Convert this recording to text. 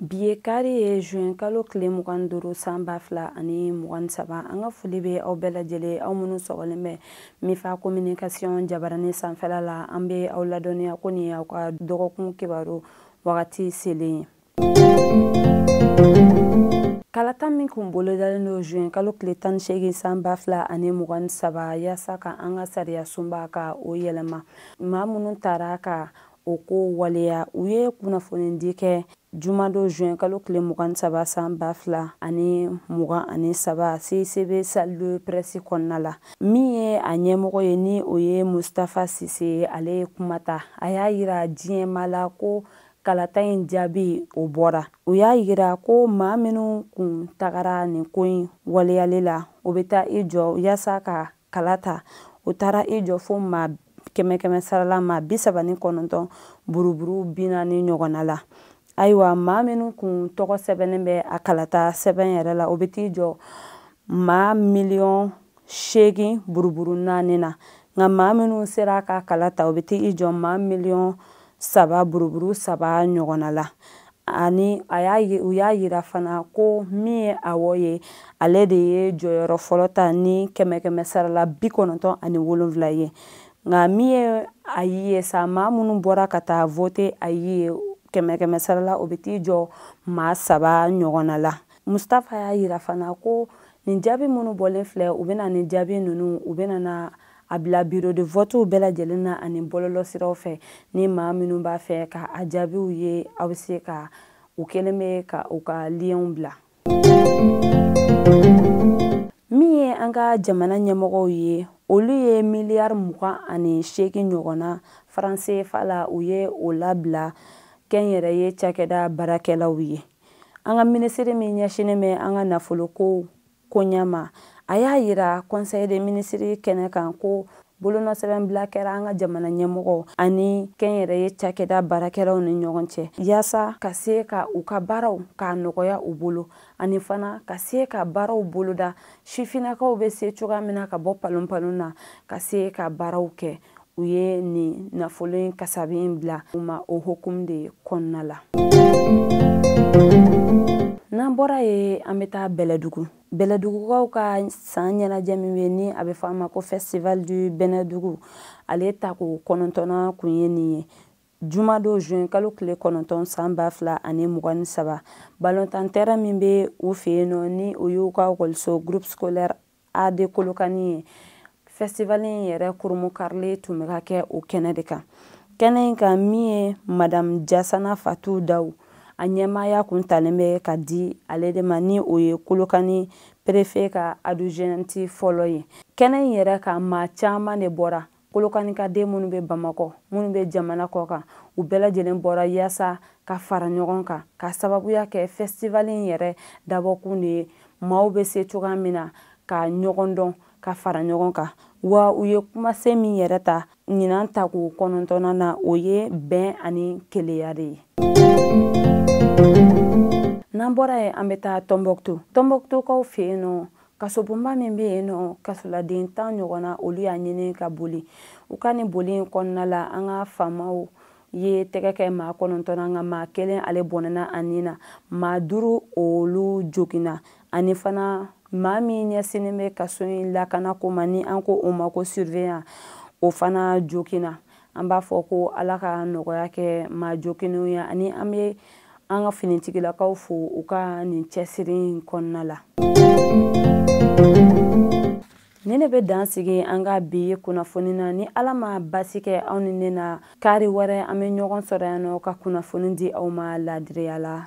Bi ye kari ye juin kalo tile mugan duuru san ba fila ani mugan saba an ka foli bɛ aw bɛɛ lajɛlen aw minnu sɔgɔlen bɛ mifa communication jabaranin sanfɛla la an bɛ aw ladɔnniya ko nin aw ka dɔgɔkun kibaru wagati selen ye. kalata min kun bolodalen don juin kalo tile tan ni seegin san ba fila ani mugan saba yaasa ka an ka sariyasunba ka o yɛlɛma maa minnu taara ka o ko waleya u ye kunnafonidi kɛ jumadon juin kalo tile mugan saba san ba fila ani mugan ani saba cicb salle de presse kɔnɔna la min ye a ɲɛmɔgɔ ye ni o ye mustafa sise ye ale ye kuma ta a y'a yira diɲɛma la ko kalata in jaabi o bɔra u y'a yira ko maa minnu kun tagara nin ko in waleyali la o bɛ taa i jɔ yaasa ka kala ta o taara i jɔ fo maa kɛmɛ kɛmɛ sarala maa bi saba ni kɔnɔntɔn buruburu bi naani ɲɔgɔnna la ayiwa maa minnu kun tɔgɔ sɛbɛnnen bɛ a kalata sɛbɛn yɛrɛ la o bɛ t'i jɔ maa miliyɔn seegin buruburu naani na nka maa minnu sera ka kala ta o bɛ t'i jɔ maa miliyɔn saba buruburu saba ɲɔgɔnna la ani u y'a yira fana ko min ye awɔ ye ale de ye jɔyɔrɔ fɔlɔ ta ni kɛmɛ kɛmɛ sarala bi kɔnɔntɔn ani wolonwula ye nka min ye ayi ye sa maa minnu bɔra ka taa vote ayi ye kɛmɛ kɛmɛ sarala o bɛ t'i jɔ maa saba ɲɔgɔnna la mustafa y'a yira fana ko nin jaabi minnu bɔlen filɛ u bɛna nin jaabi ninnu u bɛna na a bila bureau de votew bɛɛ lajɛlen na ani bɔlɔlɔ siraw fɛ ni maa minnu b'a fɛ ka a jaabiw ye aw bɛ se ka u kelen bɛ ka u ka lienw bila min ye an ka jamana ɲɛmɔgɔw ye olu ye miliyari mugan ani seegin ɲɔgɔnna franc cfa la u ye o labila kɛnyɛrɛye cakɛda baarakɛlaw ye an ka minisiri min ɲɛsinnen bɛ an ka nafolokow koɲɛ ma a y'a yira conseil des ministres kɛnɛ kan ko bolonɔsɛbɛnbila kɛra an ka jamana ɲɛmɔgɔ ani kɛnyɛrɛye cakɛda baarakɛlaw ni ɲɔgɔn cɛ yaasa ka se ka u ka baaraw k'a nɔgɔya u bolo ani fana ka se ka baaraw boloda sifinnakaw bɛ se cogoya min na ka bɔ palonpalon na ka se ka baaraw kɛ u ye nin nafolo in kasabi in bila u ma o hukumu de kɔnɔna la n'an bɔra yen an bɛ taa bɛlɛdugu bɛlɛdugukaw ka san ɲɛnajɛ min bɛ ni a bɛ fɔ a ma ko festival du bɛlɛdugu ale tako kɔnɔntɔnnan kun ye nin ye jumadon juin kalo tile kɔnɔntɔn san ba fila ani mugan ni saba balontan terrain min bɛ u fɛ yen nɔ ni o y'u ka ekɔliso groupe scolaire AD Kolokani ye. Festival in yɛrɛ kurunbonkarili tun bɛ ka kɛ o kɛnɛ de kan. Kɛnɛ in kan min ye Madame Diassana Fatou Daou a ɲɛmaaya kun talen bɛ ka di ale de ma ni o ye Kolokani perefe ka adjointe fɔlɔ ye. Kɛnɛ in yɛrɛ kan maa caman de bɔra. kolokani ka den minnu bɛ bamakɔ minnu bɛ jamana kɔ kan u bɛɛ lajɛlen bɔra yaasa ka fara ɲɔgɔn kan ka sababuya kɛ fɛstivali in yɛrɛ dabɔkun de ye maaw bɛ se cogoya min na ka ɲɔgɔn dɔn ka fara ɲɔgɔn kan wa u ye kumasen min yɛrɛ ta ɲinan tako kɔnɔntɔnnan na o ye bɛn ani kelenya de ye n'an bɔra yen an bɛ taa tɔnbɔkutu tɔnbɔkutukaw fɛ yen nɔ kasobonba min bɛ yen nɔ kasoladen tan ɲɔgɔnna olu y'a ɲini ka boli u ka nin boli in kɔnɔna la an ka faamaw ye tɛgɛ kɛ maa kɔnɔntɔn na nka maa kelen ale bɔnɛna a ni na maa duuru olu joginna ani fana maa min ɲɛsinnen bɛ kaso in lakanako ma ni an ko o ma ko surveillant o fana joginna an b'a fɔ ko ala ka nɔgɔya kɛ maa joginnenw ye ani an bɛ an ka finitigilakaw fo u ka nin cɛsiri in kɔnɔna la nin in bɛ dan sigi an ka bi kunnafoni na ni ala ma basi kɛ aw ni ne na kari wɛrɛ an bɛ ɲɔgɔn sɔrɔ yan nɔ ka kunnafoni di aw ma laadiriya la